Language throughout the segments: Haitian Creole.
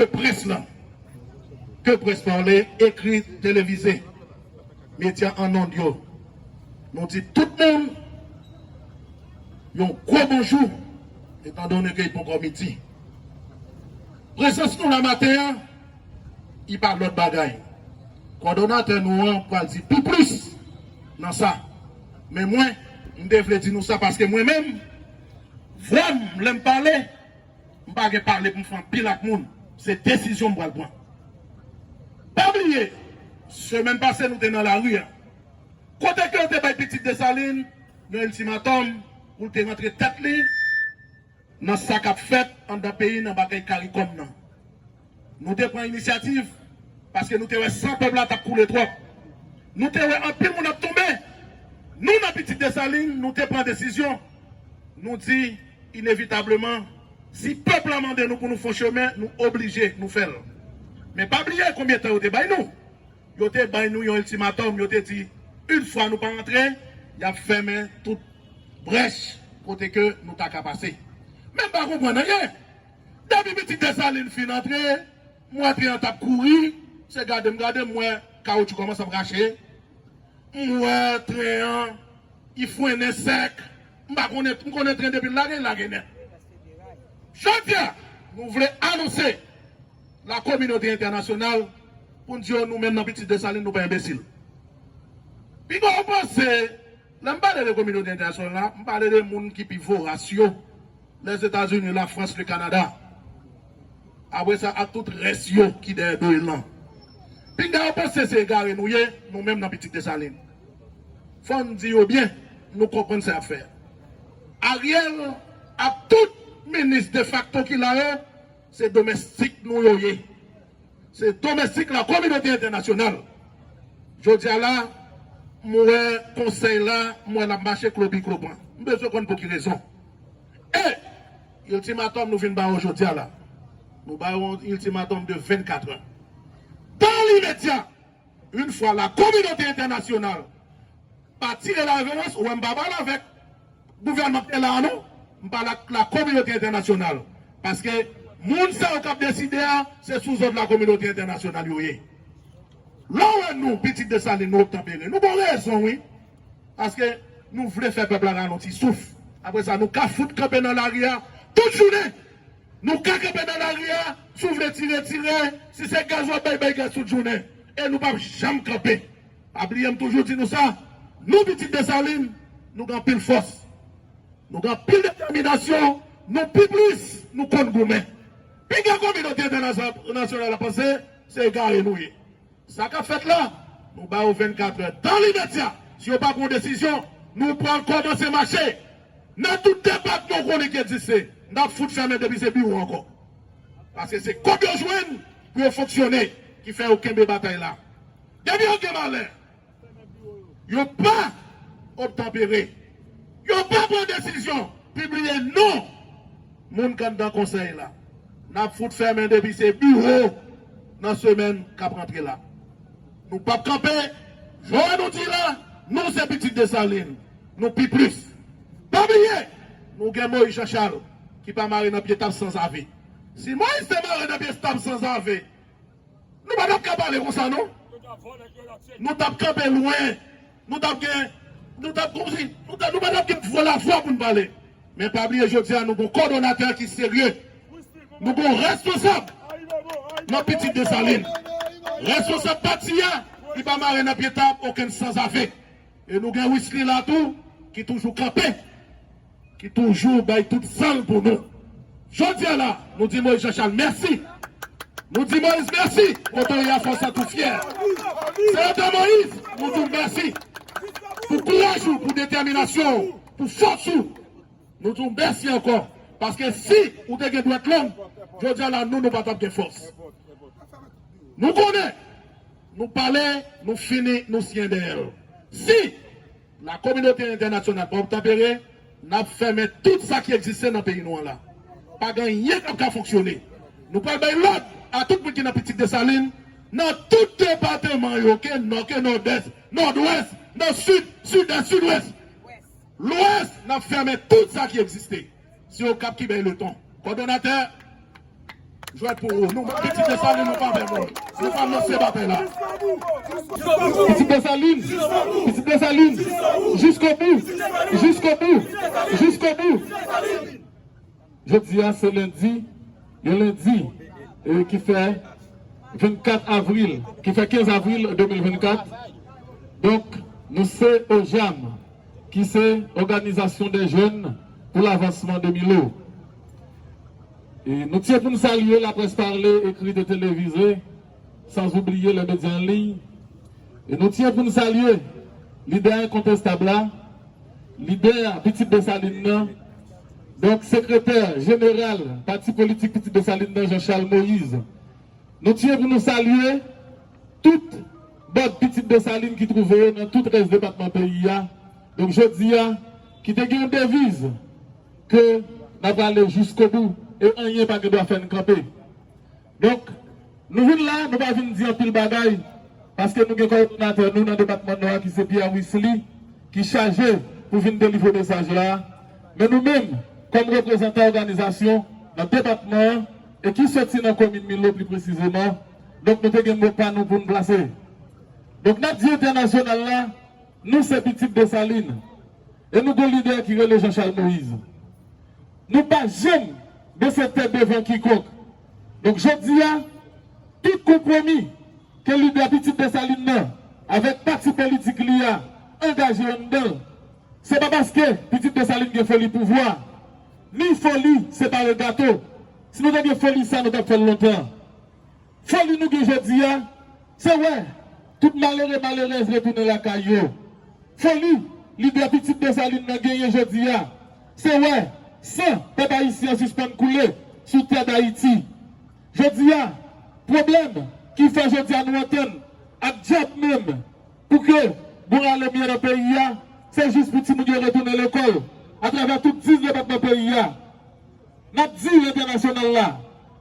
Ke près la, ke près pale, ekri, televize, medya an ond yo, nou di tout moun yon gwo bonjou etandone ke li poko midi. Prezans nou la maten an, li pa lòt bagay. Kòdonatè nou an pral di pi plis nan sa. Men mwen, m te vle di nou sa paske mwen menm, vwa m lè m pale, M pa gen pale pou m fè anpil ak moun, se desizyon m pral pran. Pa bliye, semèn pase nou te nan lari a, kote ke yo te bay pitit Desalin yon iltimatòm pou l te rantre tèt li nan sa k ap fèt anndan peyi n anba kay Karikòm nan. Nou te pran inisyativ paske nou te wè san pèp la t ap koule twòp. Nou te wè anpil moun ap tonbe. Nou nan Pitit Desalin, nou te pran desizyon. Nou di, inevitableman, si pèp la mande nou pou nou fon chemen, nou oblije, nou fè l. Men pa bliye konbyen tan yo te bay nou. Yo te bay nou yon iltimatòm, yo te di, yn fwa nou pa antre, y ap fèmen tout brèch kote ke nou ta ka pase. Men m pa konprann anyen. Depi pitit Desalin fin antre, m wè tren an t ap kouri. Se gade m gade, m wè kawotchou kòmanse ap rache. M wè tren an, li frennen sèk. M pa konnen, m konnen tren depi l lage, li lage nèt. Jodi a, nou vle anonse la kominote entènasyonal pou n di yo nou menm nan pitit Desalin nou pa enbesil. Pinga w panse. Lè m pale de kominote entènasyonal la, m pale de moun ki pi voras yo, Lèzetazini, Lafrans, Lekanada, apre sa ak tout rès yo ki dèyè do Ilan. Pinga yo panse se egare nou ye, nou menm nan Pitit Desalin. Fò n di yo byen, nou konprann sa y ap fè a. Ariel ak tout minis defakto ki la yo, se domèstik nou yo ye. Se domestik la kominote entènasyonal jodia la m wè konsèy la m wè lap mache klopi klopan m bezwen konn pou ki rezon e iltimatòm nou vin ba yo jodia la nou ba yo yon iltimatòm de 24 è dan limedya. Yn fwa la kominote entènasyonal pa tire la reverans ou wè m pa pale avèk gouvènman k te la a non m pale ak la kominote entènasyonal paske moun sa yo k ap deside a se sou zòd la kominote entènasyonal yo ye lè w wè nou pitit Desalin nou obtanpere nou gon rezon wi paske nou vle fè pèp la ralonti souf apre sa nou ka fout kanpe nan lari a tout jounen. Nou ka kanpe nan lari a, si w vle tire, tire, si se gaz wap bay, bay gaz tout jounen. E nou pap janm kanpe. Pa bliye m toujou di nou sa, nou pitit Desalin, nou gen anpil fòs, nou gen anpil detèminasyon, nou pi plis, nou konn goumen. Piga kominote entènasyonal ap panse se egare nou ye. Sa kap fèt la, nou ba yo 24 è dan limedya si yo pa pran yon desizyon, nou pral kòmanse mache nan tout depatman ou konnen ki egziste, nap fout fèmen depi se biwo ankò. Paske se kob yo jwenn pou yo fonksyone ki fè yo kenbe batay la. Depi yo gen malè. Yo pa obtanpere. Yo pa pran desizyon pibliye non moun k anndan konsèy la. N ap fout fèmen depi se biwo nan semèn k ap rantre la. Nou p ap kanpe. Vwa nou di la, nou se pitit Desalin. Nou pi plis. Pa bliye, nou gen Moyiz Janchal ki pa mare nan pye tab sanzave. Si Moyiz te mare nan pye tab sanzave. Nou pa tap ka pale konsa non. Nou tap kanpe lwen. Nou tap gen nou tap konsi nou ta nou pa tap gen pou la fwa pou nou pale. Men pa bliye jodi a nou gon kòdonatè ki serye. Nou gon responsab nan pitit Desalin. Responsab pati a li pa mare nan pye tab okenn sanzave. E nou gen Wisly la tou ki toujou kanpe, ki toujou bay tout san l pou nou. Jodi a la, nou di Moïse Jean Charles mèsi. Nou di Moïse mèsi, kote w ye a fò w santi w fyè. Senatè Moïse, nou di w mèsi pou kouraj ou, pou detèminasyon w, pou fòs ou. Nou di w mèsi ankò, paske si ou te gen dwèt long, jodi a la nou, nou pa t ap gen fòs. Nou konnen. Nou pale, nou fini, nou siyen dèyè l. Si la kominote entènasyonal pa obtanpere, n ap fèmen tout sa ki egziste nan peyi nou an la. Pa gen anyen k ap ka fonksyone. Nou pral bay lòd a tout moun ki nan Pitit Desalin, nan tout depateman yo, ke Nò, ke Nòdès, Nòdwès, Nò Sid, Sidès, Sidwès, Lwès, n ap fèmen tout sa ki egziste. Se okap ki bay leton. Kòdonatè jwèt pou ou. Nou menm pitit Desalin nou pa vèvè. Nou pa lanse batay la. Pitit Desalin! Pitit Desalin! Jiskobou! Jiskobou! Jiskobou! Jodi a se lendi, yon lendi ki fè 24 avril, ki fè 15 avril 2024. Donk nou se OJAM. ki se òganizasyon dè jèn pou lavansman de Milo. Nou tye pou n salye laprès pale, ekrit e televize, san zoubliye lè medya an liy. E nou tye pou n salye lidè enkontestab la, lidè Pitit Desalin nan, donk sekretè jeneral pati politik Pitit Desalin nan Jean Charles Moïse. Nou tye pou nou salye. Tout bòd pitit Desalin ki twouve yo nan tout rès depatman peyi a. Donk jodi a, ki te gen yon deviz ke n ap ale jiskobou e anyen pa gen dwa fè n kanpe. Donk, nou vin la, nou pa vin di anpil bagay, paske nou gen kowòdonatè nou nan depatman Nò a ki se Pierre Wisly ki chaje pou vin delivre mesaj la. Men nou menm, kòm reprezantan òganizasyon nan depatman an e ki soti nan komin Milo pli presizeman, donk nou te gen mo pa nou pou n plase. Donk n ap di entènasyonal la, nou se pitit Desalin, e nou gon lidè ki rele Janchal Moyiz. Nou pa janm bese tèt devan kikonk. Donk jodi a, tout konpwomi ke lidè pitit Desalin nan avèk pati politik li a angaje anndan l, se pa paske pitit Desalin gen foli pouvwa, ni foli separe gato. Si nou te gen foli sa nou t ap fè l lontan. Foli nou gen jodi a, se wè tout malere malerèz retounen lakay yo. Foli lidè pitit Desalin nan genyen jodi a, se wè san pèp ayisyen an sispann koule sou tè Dayiti. Jodi a, pwoblèm ki fè jodi a nou antann ak dyab menm pou ke bon rale mye nan peyi a, se jis pou timoun yo retounen lekòl atravè tout 10 depatman peyi a. Nap di entènasyonal la,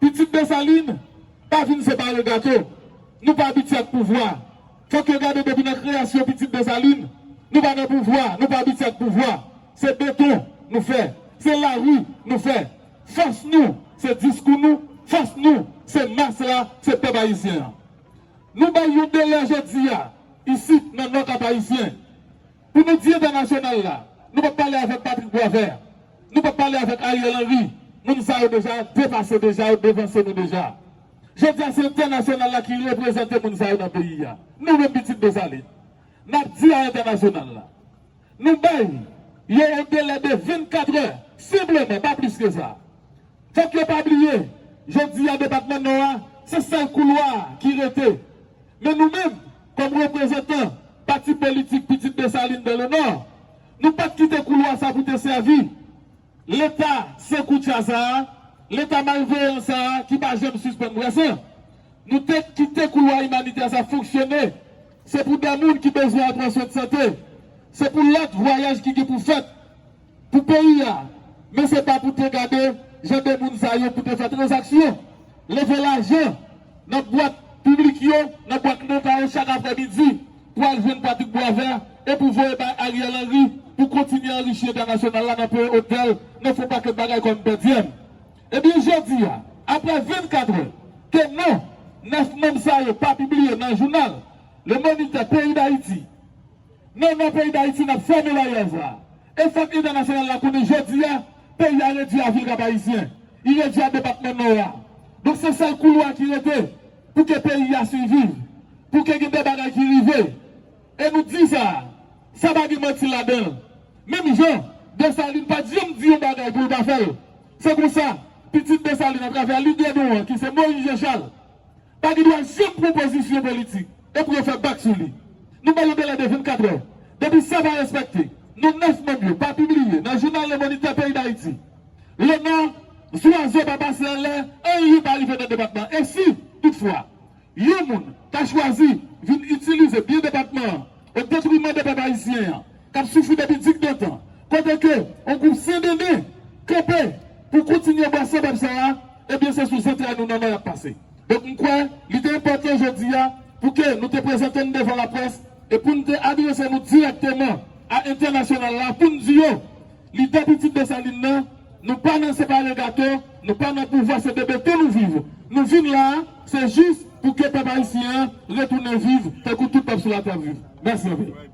pitit Desalin pa vin separe gato, nou pa abitye ak pouvwa. Fòk yo gade depi nan kreyasyon pitit Desalin, nou pa nan pouvwa, nou pa abitye ak pouvwa. Se beton nou fè, se lari nou fè. Fòs nou se diskou nou, fòs nou se mas la, se pèp ayisyen an. Nou bay yon delè jodi a, isit nan Nò Kap Ayisyen, pou nou di entènasyonal la, nou pap pale avèk Patrick Boisvert. Nou pap pale avèk Ariel Henry, moun sa yo deja depase deja yo devanse nou deja. Jodi a se entènasyonal la ki reprezante moun sa yo nan peyi a. Nou menm pitit Desalin nap di a entènasyonal la nou bay yo yon delè de 24 è senpleman pa plis ke sa. Fòk yo pa bliye jodi a depatman Nò a se sèl koulwa ki rete men nou menm kòm reprezantan pati politik pitit Desalin dan le Nò, Nou pa t kite koulwa sa pou te sèvi Leta san koutya sa a, Leta malveyan sa a ki pa janm sispann brase. Nou te kite koulwa imanitè sa fonksyone. Se pou dè moun ki bezwen al pran swen sante, se pou lòt vwayaj ki gen pou fèt pou peyi a, men se pa pou te gade jan de moun sa yo pou te fè tranzaksyon, leve lajan nan bwat piblik yo, nan bwat Leta yo chak aprè midi. pwal jwenn Patrick Boisvert e pou voye bay Ariel Henry pou kontinye anrichi entènasyonal la nan peye otèl, nan fon pakèt bagay kòm pèdiyèm. Ebyen jodi a, aprè 24 è ke non 9 manm sa yo pa pibliye nan jounal Le Moniteur peyi Dayiti, non non peyi Dayiti nap fèmen baryè sa a e fòk entènasyonal la konnen jodi a peyi a redwi a vil Kap-Ayisyen, li redwi a depatman Nò a. Donk se sèl koulwa ki rete pou ke peyi a siviv. Pou ke gen de bagay ki rive, e nou di sa, sa pa gen manti ladan l. Menm jan, Desalin pa t janm di yon bagay pou l pa fè l. Se konsa, pitit Desalin atravè lidè nou an ki se Moyiz Janchal, pa gen dwa janm pran pozisyon politik epi yo fè bak sou li. Nou ba yo delè de 24 è. Depi sa pa respekte, non 9 manm yo pa pibliye nan jounal Le Moniteur peyi Dayiti, Lenò, Zwazo pa pase anlè, anyen pa rive nan depatman. E si, toutfwa, Yon moun ka chwazi vin itilize byen depatman an o detriman de pèp ayisyen an k ap soufri depi dikdantan, kote ke on gwoup sendenden kanpe pou kontinye bwa san pèp sa a, ebyen se sou zantray nou nannan y ap pase. Donk m kwè li te enpòtan jodi a pou ke nou te prezante n devan laprès e pou n te adrese nou dirèkteman a entènasyonal la pou n di yo, Lide pitit Desalin nan, nou pa nan separe gato, nou pa nan pouvwa se bebe tou nou viv. Nou vin la a, se jis pou ke pèp ayisyen an retounen viv tankou tout pèp sou latè ap viv. Mèsi anpil.